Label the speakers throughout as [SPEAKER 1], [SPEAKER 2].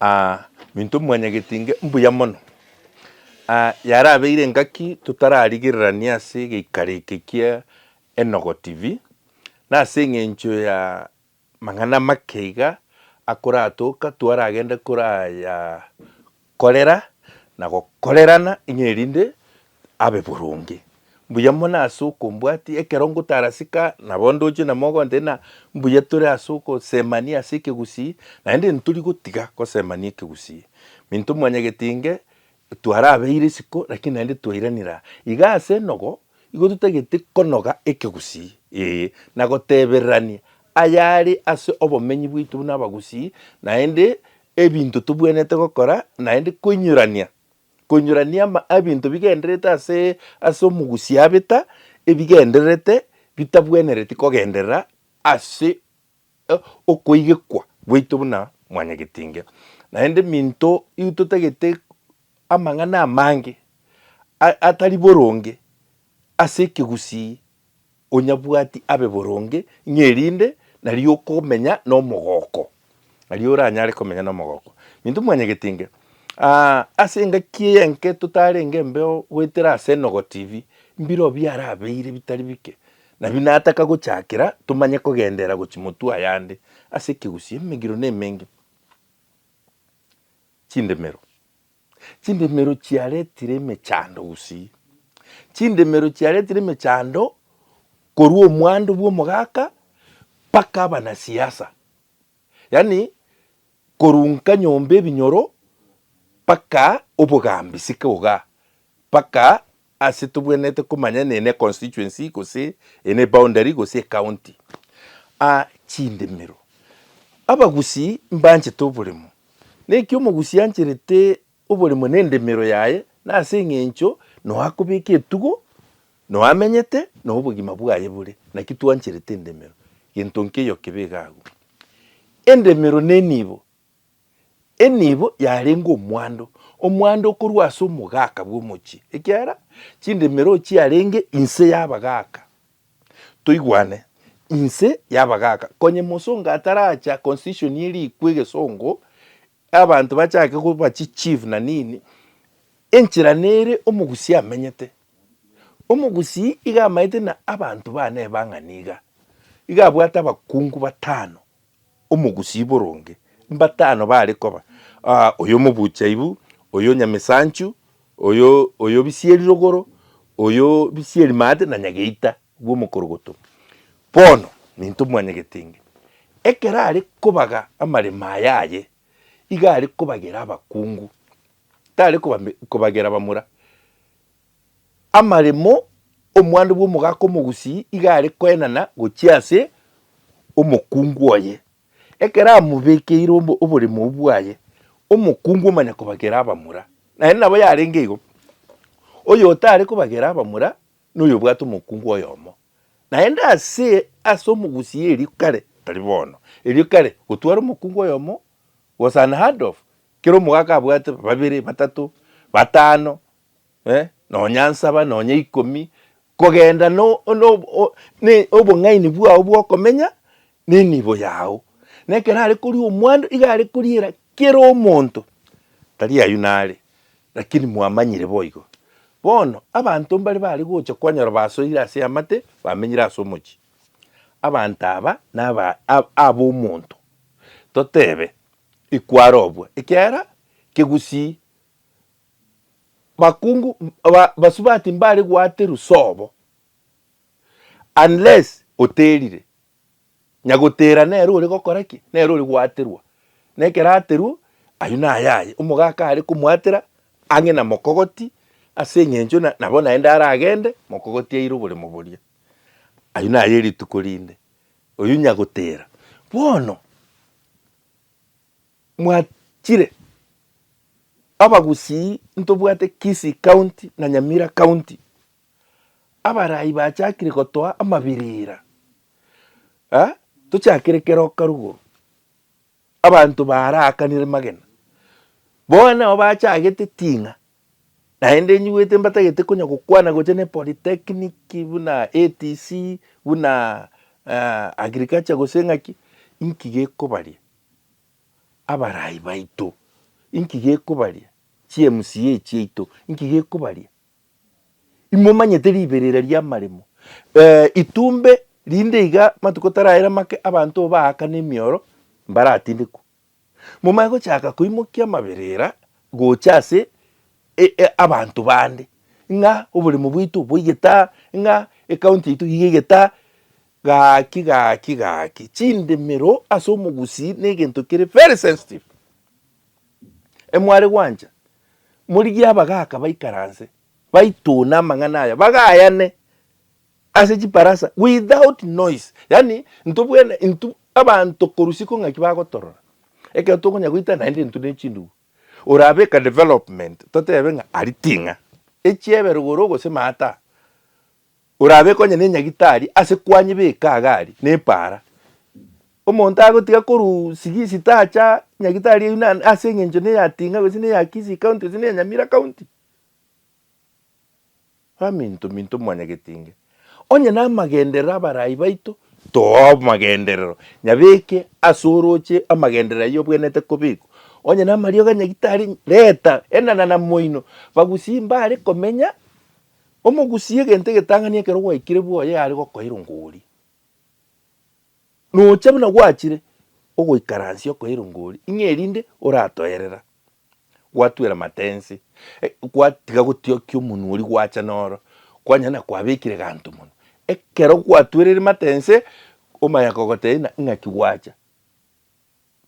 [SPEAKER 1] Aa, minto mwanyageti inge, mbuya mono. Aa, yarabeire engaki totararigererania ase egeikaro eke kia Enogo TV, na ase eng'encho ya mang'ana make iga akoratoka twaragende koraya korera na gokorerana ng'a erinde abe boronge. Mbuya mono ase okombwatia, ekero ngotarasika nabo ndoche na mogontebia ng'a mbuya tore ase ogosemania ase ekegusii, naende ntori gotiga gosemania ekegusii. Minto mwanyagete inge, twarabeire isiko lakini naende twairanire aa. Iga ase enogo, igo totagete konoga ekegusii, ee, na gotebererania ayare ase obomenyi bwaito buna abagusii, naende ebinto tobuanete gokora, naende koinyorania Nkonyorania ebinto bigendererete ase ase omogusi abeta ebigendererete bitabwenereti kogenderera ase okoigekwa gwaito buna mwanyagetinge. Naende minto igo totagete amang'ana amange atari boronge ase ekegusii Onyabwati abe boronge, ng'a erinde nario okomenya nomogooko, nario oranyare komenya nomogooko. Minto mwanyagetinge, aa, ase engaki eye enke totarenge embeo goetera ase enogo TV, mbireo biarabeire bitari bike, nabi nataka gochakera tomanye kogenderera gochi motwe ayande ase ekegusii emegiro nemenge chindemero. Chindemero chiaretire emechando gusii. Chindemero chiaretire emechando korwa omwando bw'omogaka mpaka abanasiasa. Yaani korunka nyomba ebinyoro mpaka obogambi siko igaa mpaka Ase tobwenerete komanya ene ne constituency gose ene boundary gose ecounty. A chindemero. Abagusii mbanchete oboremo. Naki omogusii ancherete oboremo ne endemero yaye na ase eng'encho noo akobeka etugo, noo amenyete, noo obogima bwaye bore. Naki twancherete endemero. Gento nkeiyo kebe iga agwo. Endemero nenibo Enibo yarenge omwando, omwando okorwa ase omogaka bw'omochie, ekiagera chindemero chiarenge inse y'abagaka. Toigwane, inse y'abagaka. Konye mosongo ataracha constitution ye rikwa egesongo, abanto bachake koba chi chief na nini, enchera nere omogusii amenyete. Omogusii iga amaete na abanto bane ebang'ani iga, iga abwate abakungu batano. Omogusii boronge. Mbatano bare koba, aa, oyo omobuchaibu, oyo nyamesanchu, oyo, oyo bisieri rogoro, oyo bisieri maate, na nyageita bw'omokorogoto. Bono, nintwe mwanyegete inge. Ekero are kobaga amaremo aya aye, iga are kobagera abakungu, tare koba, kobagera abamura. amaremo, omwando bw'omogaka omogusii iga are koenana gochia ase omokungu oye. Ekero amobekeire obo- oboremo obwo bwaye, omokungu omanya kobagera abamura. Naende nabo yarenge igo, oyotare kobagera abamura noyobwate omokungu oyomo. Naende ase ase omogusii erio kare, tari bono, erio kare gotwara omokungu oyomo was unheard of, kera omogaka abwate babere, batato, batano, eh, nonya nsaba, nonya ikomi, kogenda no- no- o- ne- obong'aini bwao bw'okomenya nenibo yao. Na ekero are koria omwando, iga are koriera kera omonto, tari ayio nare, lakini mwamanyire boigo. Bono abanto mbare bare gocha kwanyora basoire ase amate, bamenyire ase omochie. Abanto aba naba ab- ab'omonto, totebe, ikwarobwa, ekiagera kegusii Bakungu ba- basubati mbare gwaterwa sobo unless oterire. Nyagotera nere ore gokora ki? Nere ore gwaterwa. Na ekero aterwa, aywo naye aye. Omogaka are komwatera ang'e na mokogoti ase eng'encho na- nabo naende aragende mokogoti aire oboremo boria. Aywo naye rituko rinde. Oyio nyagotera. Bono. Mwachire abagusii ntobwate Kisii County na Nyamira County abaraai bachakire gotoa amabirira tochakire keroka rugoro abanto baarakanire magena bono nabo bachagete ting'a. Naende inyuete mbatagete konya gokwana gocha ne polytechnic buna ATC buna uh, agriculture gose ng'aki inki gekobaria abarai baito inki gekobaria chiMCA chiaito inki gekobaria imomanyete riberera riamaremo eh, itumbe rinde iga matuko taraera make abanto baakana emioro mbaratindekwa Momaye gochaka koimokia amaberera gocha ase abanto bande, ng'a oboremo bwaito boigete aa, ng'a ecounty yaito iga igete aa, gaki gaki gaki. Chindemero ase omogusii na egento kere very sensitive. Emware gwancha, morigie abagaka baikaranse, baitune amang'ana aya, bagayane. Ase chibarasa without noise, yaani intwe bwene intwe abanto korusia ko ng'aki bagotorora, ekero tokonya goita naende intwe ne chindugu, orabe ka development totebe ng'a aria ting'a, echiebe rogoro gose maata, orabe konye ne nyagitari ase kwanyebeka iga aria ne paara, omonto agotiga korwa sigisi tacha nyagitari eyio na ase eng'encho ne ya ting'a gose ne ya Kisii county gose ne ya Nyamira county. Baminto minto mwanyagetinge, onye namagenderero abarai baito too amagenderero, nyabeke ase orooche amagenderero ayio obwenerete kobekwa. Onye namarioga nyagitari, reta enana na moino, bagusie mbare komenya, omogusie egento egetang'ani ekero gwaikire bwoye yare gokoira ngori. Nocha buna gwachire ogoikaransia okoira ngori, ing'e erinde oratoerera. gwatuera matensi, eh, gwatiga gotiokia omonwa oria gwacha noro, kwanyana na kwabekire ganto monwa. Ekero gwatuerire matense, omanya kogoteina ng'aki gwacha,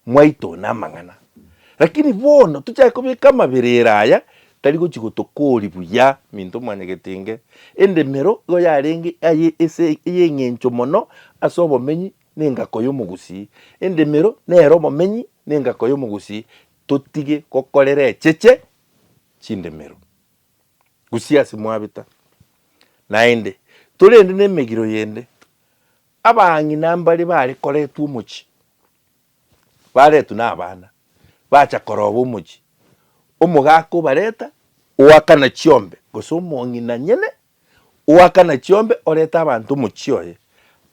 [SPEAKER 1] mwaitona amang'ana. Rakini bono tochake kobeka amaberero aya tari gochi gotokori buya minto mwanyagete inge endemero igo yarenge aye ese ey'eng'encho mono ase obomenyi na engako y'omogusii. Endemero nere obomenyi na engako y'omogusii, Totige gokorera echeche chindemero, gusii ase mwabeta naende torende nemegiro yende. Abang'ina mbare bare koretwa omochie, baretwa na abana, bacha koroba omochie, omogaka obareta oakana chiombe, gose omong'ina nyene oakana chiombe oreta abanto omochie oye.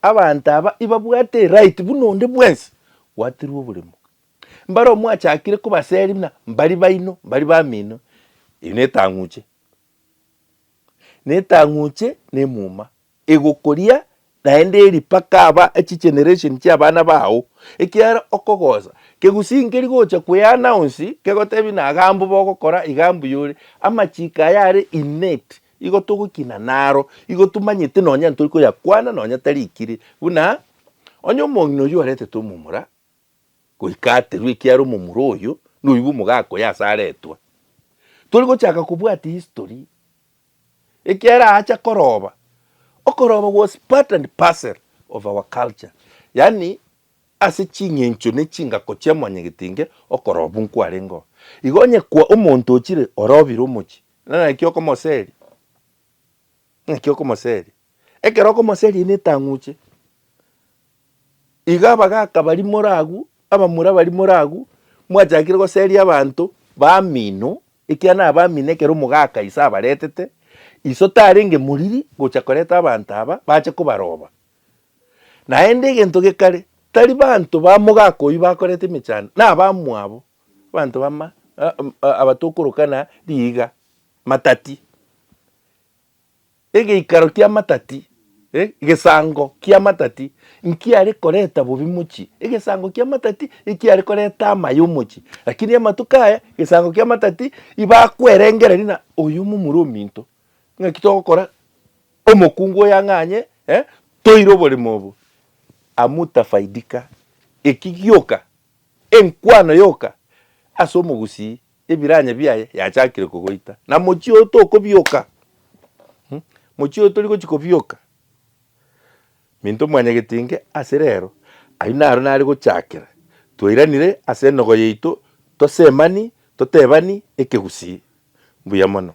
[SPEAKER 1] Abanto aba ibabwate eright buna onde bwensi gwaterwa oboremo, Mbare omwachakire kobaseri buna mbari baino, mbari bamino, erio netang'uche, netang'uche na emuma egokoria naende eri mpaka aba chigeneration chia abana bao, ekiagera okogosa kegusinkeria gocha koe announce kegotebi buna iga mbu bogokora iga mbuya ore, amachiko aya are innate igo togokina naro, igo tomanyete nonya ntori koyakwana nonya tarikire buna onye omong'ina oyio oretete omomura. goika aterwe, ekiara omomura oyo noigwa omogaka oye ase aretwa. Tori gochaka kobwati history, ekiara aacha koroba, okoroba was part and parcel of our culture, yaani ase ching'encho ne chingako chia mwanyagetenge okoroba buna kwarenge oo. Igo onye kwa omonto ochire orobire omochie, naki okomoseria? Naki okomoseria. Ekero okomoseria na etang'uche, iga abagaka baria more agwo, abamura baria more agwo, mwachakire goseria abanto bamino, ekiagera nabo bamino ekero omogaka ise abaretete, ise otarenge moriri gocha koreta abanto aba bache kobaroba. Naende egento gekare, tari banto ba mogaka oyio bakoreta emechando, na abamwabo, abanto bama, aba tokorokana riiga, matati. egeikaro ki'amatati, eh, gesango ki'amatati nkiare koreta bobe mochie, egesango ki'amatati ekiare koreta amaya omochie. Lakini amatuko aya, egesango ki'amatati ibakwerengereria ng'a oyo omomura ominto, ng'aki togokora omokungu oyo ang'anye, eh, toire oboremo obo. Hamutafaidika, eki gioka, enkwano yoka ase omogusii Ebiranya biaye yachakire kogoita, na mochie oyo tokobioka. Mochie oyo tori gochia kobioka, Minto Mwanyagetinge ase rero, ayio naro nare gochakera. Twairanire ase enogo yaito, tosemani, totebani ekegusii. Mbuya mono.